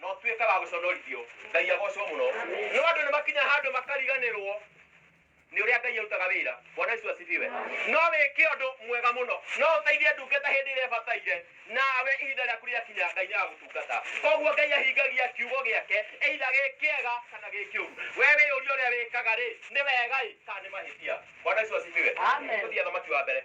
no tuĩke wa gũconorithio ngai agocwo mũno no andũ nĩ makinya handũ makariganĩrwo nĩ ũrĩa ngai arutaga wĩra bwana icu asifiwe no wĩke ũndũ mwega mũno no ũteithie ndungata hĩndĩ ĩrĩa ĩbataire nawe ihinda rĩaku rĩakinya ngai nĩ agũtungata koguo ngai ahingagia kiugo gĩake eitha gĩ kĩega kana gĩ kĩũru we wĩyũria ũrĩa wĩkaga rĩ nĩ wega ĩ kana nĩ mahĩtia bwana icu asifiwe Amen. Tũthiĩ thamaki wa mbere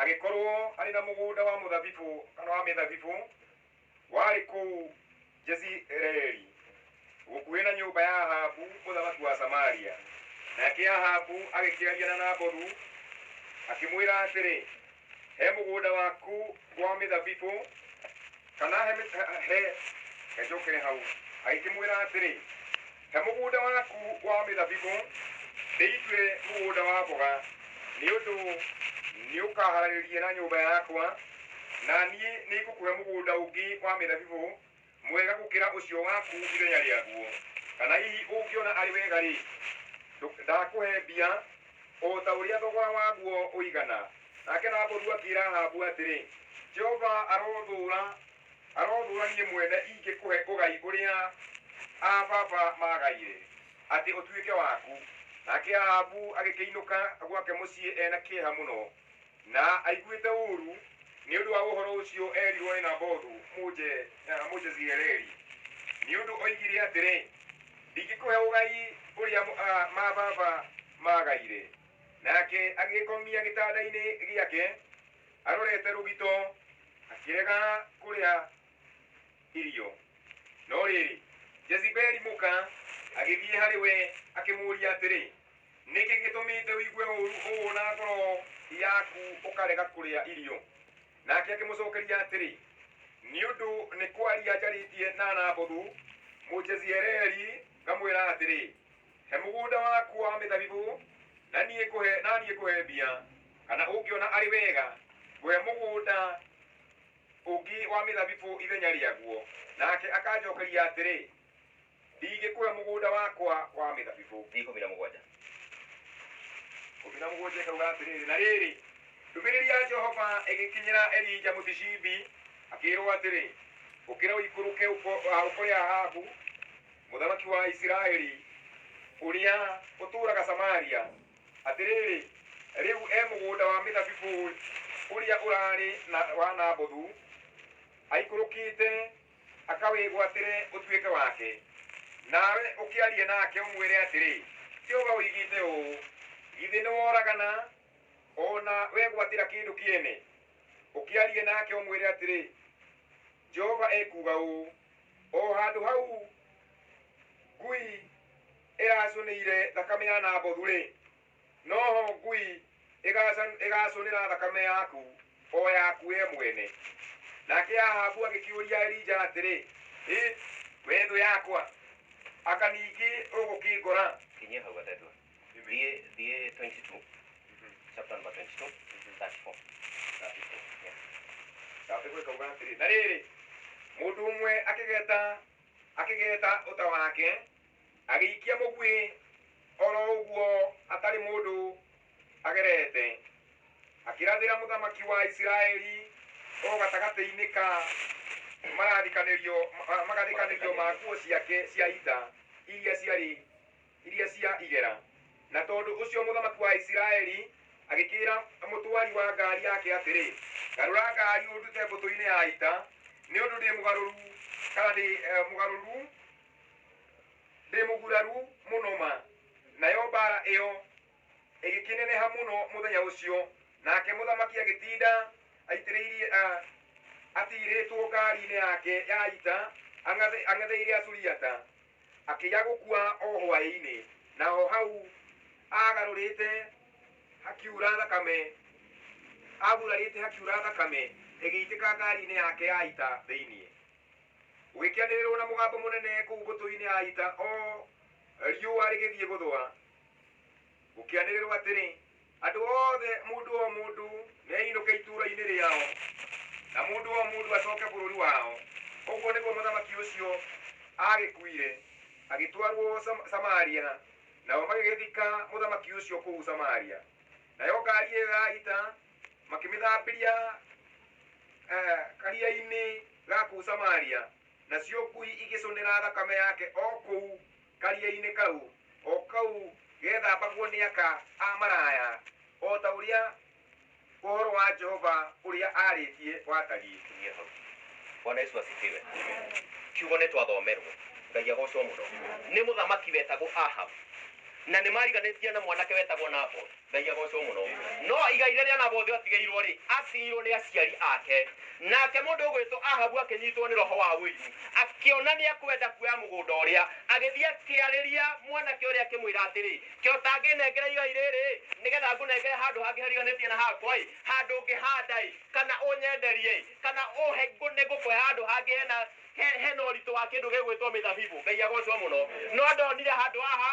Agĩkorwo arĩ na mũgũnda wa mũthabibũ kana wa mĩthabibũ warĩ kũu Jezireeli gũkuhĩ na nyũmba ya Ahabu mũthamaki wa Samaria. Nake Ahabu agĩkĩaria na Nabothu akĩmwĩra atĩrĩ, he mũgũnda waku wa mĩthabibũ kana he mĩ- he- he he njũkĩre hau agĩkĩmwĩra atĩrĩ he mũgũnda waku wa mĩthabibũ ndĩitue mũgũnda wa mboga nĩ ũndũ nĩ ũkaharagĩrĩria na nyũmba yakwa na niĩ nĩ ngũkũhe mũgũnda ũngĩ wa mĩthabibũ mwega gũkĩra ũcio waku ithenya rĩaguo kana hihi ũngĩona arĩ wega-rĩ ndũ- ndakũhe mbia o ta ũrĩa thogora waguo ũigana. Nake Nabothu akĩĩra Ahabu atĩrĩ, Jehova arothũũra, arothũũra niĩ mwene ingĩkũhe ũgai ũrĩa aa-baba maagaire, atĩ ũtuĩke waku. Nake Ahabu agĩkĩinũka gwake mũciĩ e na kĩeha mũno. Na aiguĩte ũũru nĩ ũndũ wa ũhoro ũcio eerirũo nĩ Nabothu Mũje, eh, Mũjezireeli, nĩ ũndũ oigire atĩrĩ, Ndingĩkũhe ũgai ũrĩa mũ- ah, ma baba maagaire. Nake agĩĩkomia gĩtanda-inĩ gĩake arorete rũgito, akĩrega kũrĩa irio no rĩrĩ jezibeli mũka agĩthiĩ harĩ we akĩmũũria atĩrĩ nĩkĩ gĩtũmĩte ũigue ũũru ũũ na ngoro yaku ũkarega kũrĩa irio nake akĩmũcokeria atĩrĩ nĩ ũndũ nĩ kwaria njarĩtie na nabothu mũjezireeli ngamwĩra atĩrĩ he mũgũnda waku wa mĩthabibũ na niĩ ngũhe na niĩ ngũhe mbia kana ũngĩona arĩ wega ngũhe mũgũnda ũngĩ wa mĩthabibũ ithenya rĩaguo. Nake akanjookeria atĩrĩ, Ndingĩkũhe mũgũnda wakwa wa mĩthabibũ. Ikũmi na mũgwanja. Ikũmi na mũgwanja ĩkauga atĩrĩrĩ, Na rĩrĩ, ndũmĩrĩri ya Jehova ĩgĩkinyĩra Elija Mũtishibi, akĩĩrwo atĩrĩ, Ũkĩra ũikũrũke ũko- ah, ũkore Ahabu, mũthamaki wa Isiraeli, ũrĩa ũtũũraga Samaria, Atĩrĩrĩ, rĩu e mũgũnda wa mĩthabibũ ũrĩa ũraarĩ na wa Nabothu, aikũrũkĩte akawĩgwatĩre ũtuĩke wake. Nawe ũkĩarie nake ũmwĩre atĩrĩ, 'Jehova oigĩte ũũ, Githĩ nĩworagana o na wegwatĩra kĩndũ kĩene? Ũkĩarie nake ũmwĩre atĩrĩ, 'Jehova ekuuga ũũ, O handũ hau ngui ĩracũnĩire thakame ya Nabothu-rĩ, noho ngui ĩgacan- ĩgacũnĩra thakame yaku, o yaku we mwene. Nake Ahabu agĩkĩũria Elija atĩrĩ, Ĩ, we thũ yakwa, aka ningĩ ũgũkĩngora? kinyia hau gatatũ thiĩ thiĩ 22 chapter number 22 34 yeah. Gathĩkũ ĩkauga atĩrĩ, na rĩrĩ, mũndũ ũmwe akĩgeta akĩgeta ũta wake agĩikia mũguĩ oro ũguo atarĩ mũndũ agerete akĩrathĩra mũthamaki wa isiraeli o gatagatĩ-inĩ ka marathikanĩrio ma- magathikanĩrio ma nguo ciake cia ita iria ciarĩ iria cia igera na tondũ ũcio mũthamaki wa isiraeli agĩkĩra mũtwari wa ngari yake atĩrĩ garũra ngari ũndute mbũtũ-inĩ ya ita nĩ ũndũ ndĩ mũgarũru kana ndĩ eh, mũgarũru Ndĩ mũguraru mũno ma. Nayo mbaara ĩyo ĩgĩkĩneneha mũno mũthenya ũcio, nake mũthamaki agĩtinda aitĩrĩirie a, atigĩrĩtwo ngaari-inĩ yake ya ita, ang'athe- ang'etheire Asuriata. Akĩiya gũkua o hwaĩ-inĩ, na o hau aagarũrĩte hakiura thakame, aagurarĩte hakiura thakame ĩgĩitĩka ngaari-inĩ yake ya ita thĩinĩ. Gũgĩkĩanĩrĩrwo na mũgambo mũnene kũu mbũtũ-inĩ ya ita o riũa rĩgĩthiĩ gũthũa, gũkĩanĩrĩrwo atĩrĩ, Andũ othe, mũndũ o mũndũ, nĩainũke itũũra-inĩ rĩao, na mũndũ o mũndũ acoke bũrũri wao. Ũguo nĩguo mũthamaki ũcio aagĩkuire, agĩtwarwo Sam- Samaria, nao magĩgĩthika mũthamaki ũcio kũu Samaria. Nayo ngaari ĩyo ya ita makĩmĩthambĩria eh, karia-inĩ ga kũu samaria nacio ngui igĩcũnĩra thakame yake o kũu karia-inĩ kau o kau gethambagwo nĩ aka a maraya o ta ũrĩa ũhoro wa jehova ũrĩa arĩtie watariĩ Tumia hau. Bwana Yesu asifiwe. Kiugo nĩ twathomerwo. Ngai agocwo mũno. Nĩ mũthamaki wetagwo Ahab. Na nĩ mariganĩtie na mwanake wetagwo Naboth. Ngai agocwo muno. No igai rĩrĩa Nabothu atigĩirwo rĩ, atigĩirwo nĩ aciari ake. Nake mũndũ ũgwĩtwo Ahabu akĩnyitwo nĩ roho wa ũiru, akĩona nĩ ekwenda kuoya mũgũnda ũrĩa, agĩthiĩ akĩarĩria mwanake ũrĩa akĩmwĩra atĩrĩ, ke ũtangĩnengera igai rĩrĩ, nĩgetha ngũnengere handũ hangĩ hariganĩtie na hakwa-ĩ, handũ ngĩhanda-ĩ, kana ũnyenderie-ĩ, kana ũhe nĩ ngũkũhe handũ hangĩ hena he- hena ũritũ wa kĩndũ gĩgwĩtwo mĩthabibũ. Ngai agocwo mũno. No ndonire handũ haha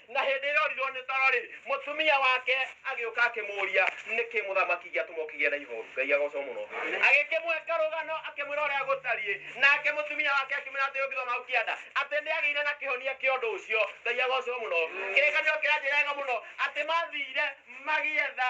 Na hĩndĩ ĩrĩa orirwo nĩ toro-rĩ, mũtumia wake agĩũka akĩmũũria, Nĩkĩ mũthamaki gĩatũma ũkĩgĩa na ihoru? Ngai agoocwo mũno. Agĩkĩmũhe karũgano, akĩmwĩra ũrĩa gũtariĩ. Nake mũtumia wake akĩmwĩra atĩrĩ, Ũngĩthoma hau kĩanda, atĩ nĩagĩire na kĩhonia kĩa ũndũ ũcio. Ngai agoocwo mũno. Kĩrĩkanĩro kĩranjĩra wega mũno atĩ mathiire magĩetha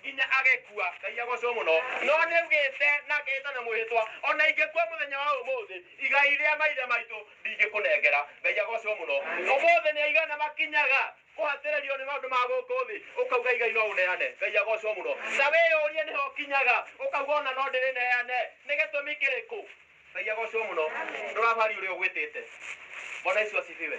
nginya agĩkua ngai agocwo mũno no nĩugĩte na ngĩta na mwĩhĩtwa ona ingĩkua mũthenya wa ũmũthĩ igai rĩa maithe maitũ ndingĩkũnengera ngai agocwo mũno ũmũthĩ nĩ aigana makinyaga kũhatĩrĩrio nĩ maũndũ ma gũkũ thĩ ũkauga igai no ũneane ngai agocwo mũno na wĩyũrie nĩho kinyaga ũkauga ona no ndĩrĩneane nĩ gĩtũmi kĩrĩkũ ngai agocwo mũno ndũrabari ũrĩa ũgwĩtĩte bwana isu asifiwe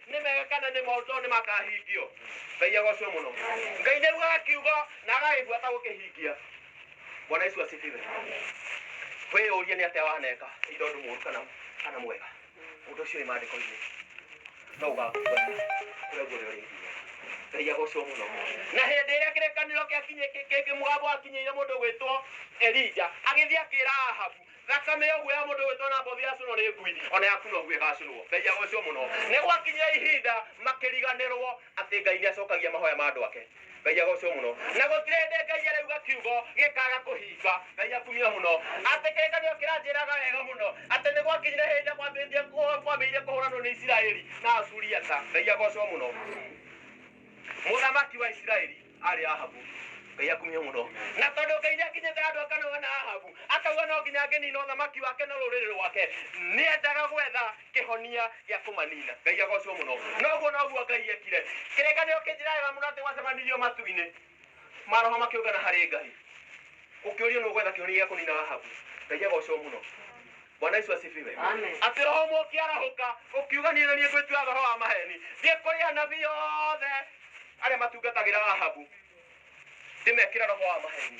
nĩ mega kana nĩ moru tondũ nĩ makahingio ngai agocwo mũno ngai nĩ aiguaga kiugo na agagĩigua ta gũkĩhingia bwana yesu asifiwe wĩyũrie nĩ atĩa waneka nĩ tondũ mũru kana kana mwega ũndũ ũcio wĩ maandĩko-inĩ no ũgakua kũrĩa guothe ũrĩ nginya ngai agocwo mũno na hĩndĩ ĩrĩa kĩrĩkanĩro gĩakinyĩ- kĩ- kĩngĩ mũgambo wakinyĩire mũndũ gwĩtwo elija agĩthiĩ akĩra ahabu thakame ũguo ya mũndũ wĩtwo na mbothi yacinwo nĩ ngui ona yaku noguo ĩgacinwo ngai agocwo mũno nĩ gwakinyia ihinda makĩriganĩrwo atĩ ngai nĩ acokagia mahoya ma andũ ake ngai agocwo mũno na gũtirĩ hĩndĩ ngai arauga kiugo gĩkaga kũhinga ngai akumia mũno atĩ kĩrĩkanĩro kĩranjĩraga wega mũno atĩ nĩ gwakinyire hĩndĩ kwambĩrĩria kwambĩrĩire kũhũranwo nĩ isiraeli na asuriata ngai agocwo mũno mũthamaki wa isiraeli arĩ ahabu ngai akumio mũno na tondũ ngai nĩ akinyĩte andũ akanoga na ahabu akauga no nginya angĩnina ũthamaki wake na rũrĩrĩ rwake nĩ endaga gwetha kĩhonia gĩa kũmanina ngai agocwo mũno noguo noguo ngai ekire kĩrĩkanĩro kĩnjĩra wega mũno atĩ gwacemanirio matu-inĩ maroho makiũngana harĩ ngai ũkĩũrio nũ gwetha kĩhonia gĩa kũnina ahabu ngai agocwo mũno bwana yesu asifiwe Amen. atĩ roho ũmwe ũkĩarahũka ũkiuga niĩ na niĩ ngwĩtua roho wa maheni thiĩ kũrĩ anabii othe arĩa matungatagĩra ahabu ndĩmekĩra roho wa maheni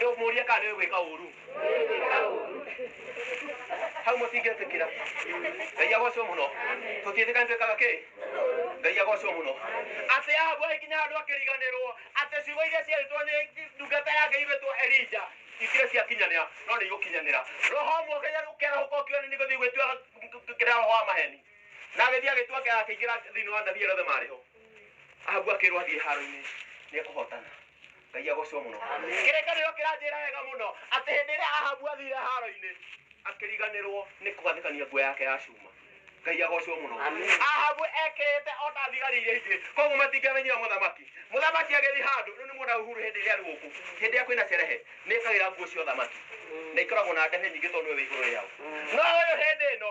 rĩu mũrie kana nĩwe gwĩka ũru hau mũtingĩtĩkĩra ngai agocwo mũno tũtiĩtĩkani twĩkaga kĩ ngai agocwo mũno atĩ ahabu agĩkinya handũ akĩriganĩrwo atĩ ciugo iria ciarĩtwo nĩ ndungata yake irĩtwo elija ikire ciakinyanĩra no nĩ igũkinyanĩra roho mwokenya ũkerahũka ũkiona nĩ gũthiĩ gwĩtua kĩrĩa roho wa maheni na agĩthiĩ agĩtua akĩingĩra thĩinĩ wa nabii erothe marĩho ahabu akĩrwo athiĩ haro-inĩ nĩ ekũhotana ngai agocwo mũno kĩrĩkanĩro kĩranjĩra wega mũno atĩ hĩndĩ ĩrĩa ahabu athire haro-inĩ akĩriganĩrwo nĩ kũgathĩkania nguo yake ya cuma ngai agocwo mũno ahabu ekĩrĩte o ta thigari iria ingĩ koguo matingĩamenyire mũthamaki mũthamaki agĩthiĩ handũ rĩu nĩ muona uhuru hĩndĩ ĩrĩa arĩ gũkũ hĩndĩ ĩrĩa kwĩna cerehe nĩ ekagĩra nguo cia ũthamaki na ikoragwo na ndehe nyingĩ tondũ nĩwe wĩ igũrũ rĩao no ũyũ hĩndĩ ĩno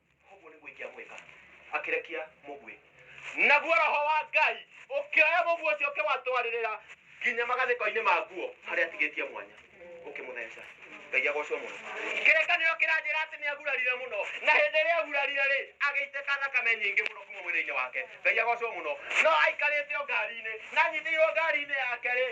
koguo nĩguo ingĩamwĩka akĩrekia mũguĩ naguo roho wa ngai ũkĩoya mũguĩ ũcio ũkĩwatwarĩrĩra nginya magathĩko-inĩ ma nguo harĩa atigĩtie mwanya ũkĩmũtheca ngai agocwo mũno kĩrĩkanĩro kĩranjĩra atĩ nĩ agurarire mũno na hĩndĩ ĩrĩa agurarire rĩ agĩitĩka thakame nyingĩ mũno kuma mwĩrĩ-inĩ wake ngai agocwo mũno no aikarĩte o ngari-inĩ na anyitĩirwo ngari-inĩ yake rĩ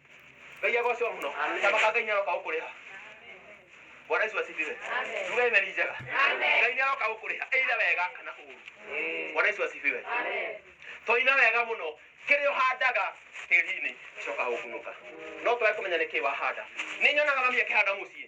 Ngai agocwo mũno. Thamaka Ngai nĩaroka gũkũrĩha. Bwana Yesu asifiwe. Tuge amen njega. Ngai nĩaroka gũkũrĩha either wega kana ũũru. Bwana Yesu asifiwe. Twaina wega mũno kĩrĩa ũhandaga tĩri-inĩ gĩcokaga gũkunũka. No twage kũmenya nĩkĩ wahanda. Nĩnyonaga mami akĩhanda mũciĩ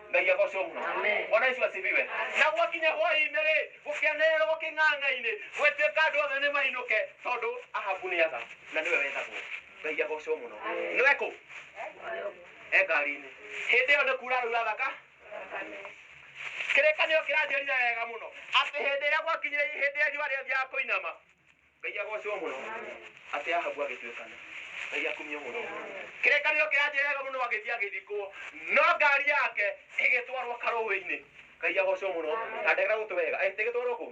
ngai agocwo muno bwana yesu asifiwe na gwakinya hwainĩ rĩ gũkĩanĩrĩrwo gũkĩng'ang'a-inĩ gwĩtuĩka andũ othe nĩ mainũke tondũ ahabu nĩ atha na nĩwe wethagwo ngai agocwo mũno nĩwe kũ e ngari-inĩ hĩndĩ ĩyo nĩ kuura rĩu athaka kĩrĩkanĩro kĩranjĩrire wega mũno atĩ hĩndĩ ĩrĩa gwakinyire hĩndĩ ĩrĩa riũa rĩathiaga kũinama ngai agocwo muno ati ahabu agituikana ngai akumio muno kirekanio kia njega muno agithii agithikwo no ngari yake igitwarwo karuwi-ini ngai agocwo muno na ndegera gutu wega atigitwarwo ku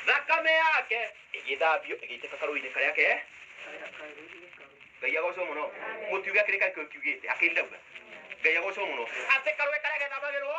thakame yake igithambio igiteka karuwi-ini karia ke ngai agocwo muno mutiuge kirika kiu kiugite akirira ngai agocwo muno ati karuwi karia gethambagirwo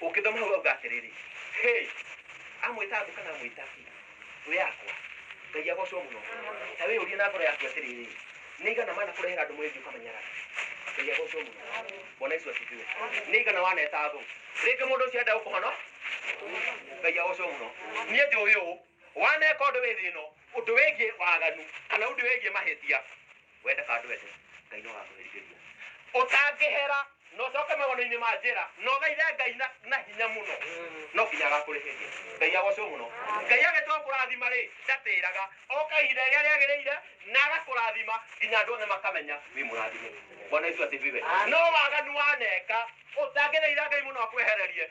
ũngĩthoma hau auga atĩrĩrĩ hey, amwĩta andũ kana amwĩta ki thũ yakwa ngai agocwo mũno ta wĩ ũrie na ngoro yaku atĩrĩrĩ nĩ igana mana kũrehera andũ mwĩthio kamenyara ngai agocwo mũno bwana yesu asifiwe nĩ igana waneta thũ rĩngĩ mũndũ ũcio enda gũkũhono ngai agocwo mũno niĩ njũĩ ũũ waneka ũndũ wĩ thĩ ĩno ũndũ wĩgiĩ waganu kana ũndũ wĩgiĩ mahĩtia wende kana ndwende ngai no agakũherithĩria ũtangĩhera na ũcoke magũrũ-inĩ ma njĩra na ũgeire ngai na, na hinya mũno no nginya agakũrĩhĩria ngai agocwo mũno ngai agĩtua kũrathima rĩ ndatĩraga oka ihinda rĩrĩa rĩagĩrĩire na agakũrathima nginya andũ othe makamenya wĩ mũrathime bwana yesu asifiwe no waganu waneka ũtangĩthaitha ngai mũno akwehererie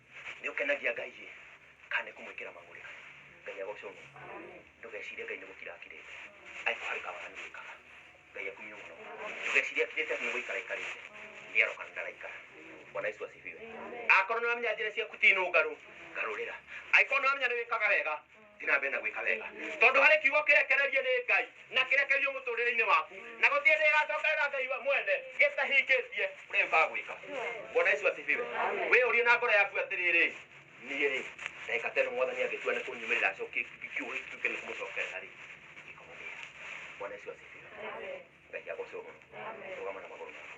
nĩ ũkenagia ngai ĩ kana nĩ kũmwĩkĩra mang'ũrĩ ngai agocwo mũno ndũgecirie ngai nĩ gũkira akirĩte aiko harĩ kawaganu wĩkaga ngai akumio mũno ndũgecirie akirĩte atĩ nĩ gũikara aikarĩte nĩ aroka na ndaraikara bwana yesu asifiwe akorwo nĩ wamenya njĩra ciaku ti nũngarũ garũrĩra aiko nĩ wamenya nĩ wĩkaga wega ndĩrambe na gwĩka wega tondũ harĩ kiugo kĩrekererie nĩ ngai na kĩrekerio mũtũrĩre-inĩ waku na gũtirĩ ndĩ ĩgacokerera ngai wa mwene gĩtahingĩtie ũrĩa gĩũkaga gwĩka bwana yesu asifiwe wĩyũrie na ngoro yaku atĩrĩrĩ niĩ rĩ ndagĩka teno mwathani angĩtua nĩ kũnyumĩrĩra acokie kiugo gĩkĩ gĩtuĩke nĩ kũmũcokerera rĩ ingĩkũmũmĩra bwana yesu asifiwe ngai agocwo mũno rũgama na magũrũ maku